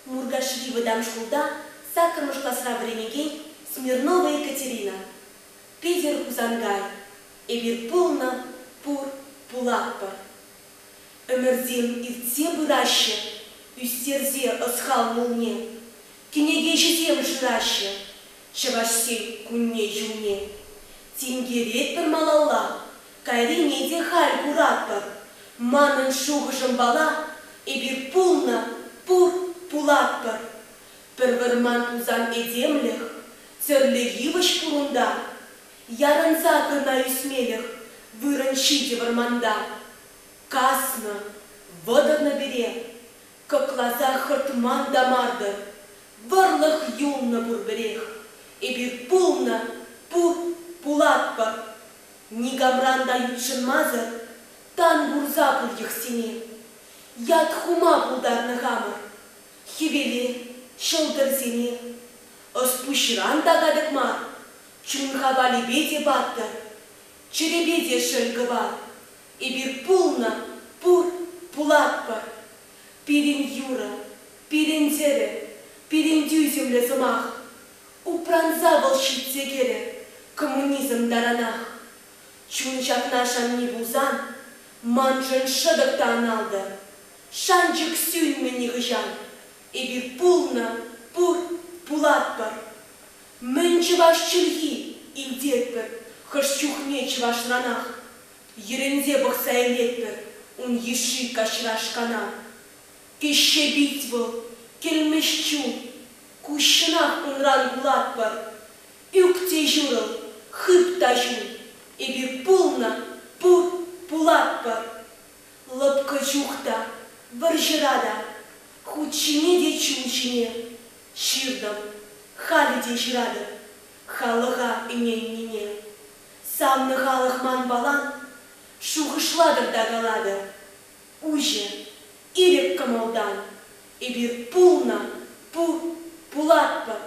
Муркашри вӑтам шкулта саккӑрмӗш класра вӗренекен Смирнова Екатерина, Питӗр Хусанкай, эпир пулнӑ, пур, пулатпӑр. Ӗмӗрсем иртсе пыраҫҫӗ, ӳстерсе ӑсхал мулне, кӗнекеҫӗсем шыраҫҫӗ Чӑвашсен кунне-ҫулне. Тинкеретпӗр малалла, Кайрине те халь куратпӑр. Манӑн шухӑшӑмпала эпир пулнӑ, пур, пулатпӑр. Пӗр вӑрман тусан этемлӗх, тӗрлӗ йывӑҫ пур унта. Ярӑнса кӑна ӳсмелӗх вырӑн ҫитӗ вӑрманта. Каснӑ, вӑтӑрнӑ пире. Кӑкласа хӑртман та мар-тӑр. Вӑрлӑх юлнӑ пурпӗрех. Эпир пулнӑ, пур, пулатпӑр. Никамран та ютшӑнмасӑр тан курса пур йӑхсене. Ят хума пултарнӑ хамӑр хӗвеле, ҫӑлтӑрсене. Ӑс-пуҫран та катӑк мар, чун хавалӗпе те паттӑр, чӗрепе те шӗл кӑвар. Эпир пулнӑ, пур, пулатпӑр. Пирӗн юрӑ, пирӗн тӗрӗ, пирӗн тӳсӗмлӗ сӑмах. Упранса вӑл ҫитсе кӗрӗ коммунизм таранах. Чун ҫакна шанми пулсан, маншӑн шӑтӑк та аналтӑр. Шанчӑк сӳнмӗ нихӑҫан. Эпир пулнӑ, пур, пулатпӑр. Мӗн чӑваш чӗлхи, илтетпӗр хӑш чухне чӑвашранах. Йӗрӗнсе пӑхса илетпӗр ун йышши каҫра-шкана. Теҫҫе пит вӑл, кӗлмӗҫ чул. Куҫҫынах унран кулатпӑр. Ӳк те ҫурӑл, хыт та ҫул. Эпир пулнӑ, пур, пулатпӑр. Лӑпкӑ чух та, вӑрҫӑра та. Хут ҫине те чул ҫине. Ҫыртӑм, халӗ те ҫыратӑп. Халӑха ӗненнине. Савнӑ халӑх манпалан. Шухӑшлатӑр та калатӑр. Уҫӑ, ирӗк кӑмӑлтан эпир пулнӑ, пу, пулатпӑр.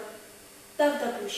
Тавтапуҫ.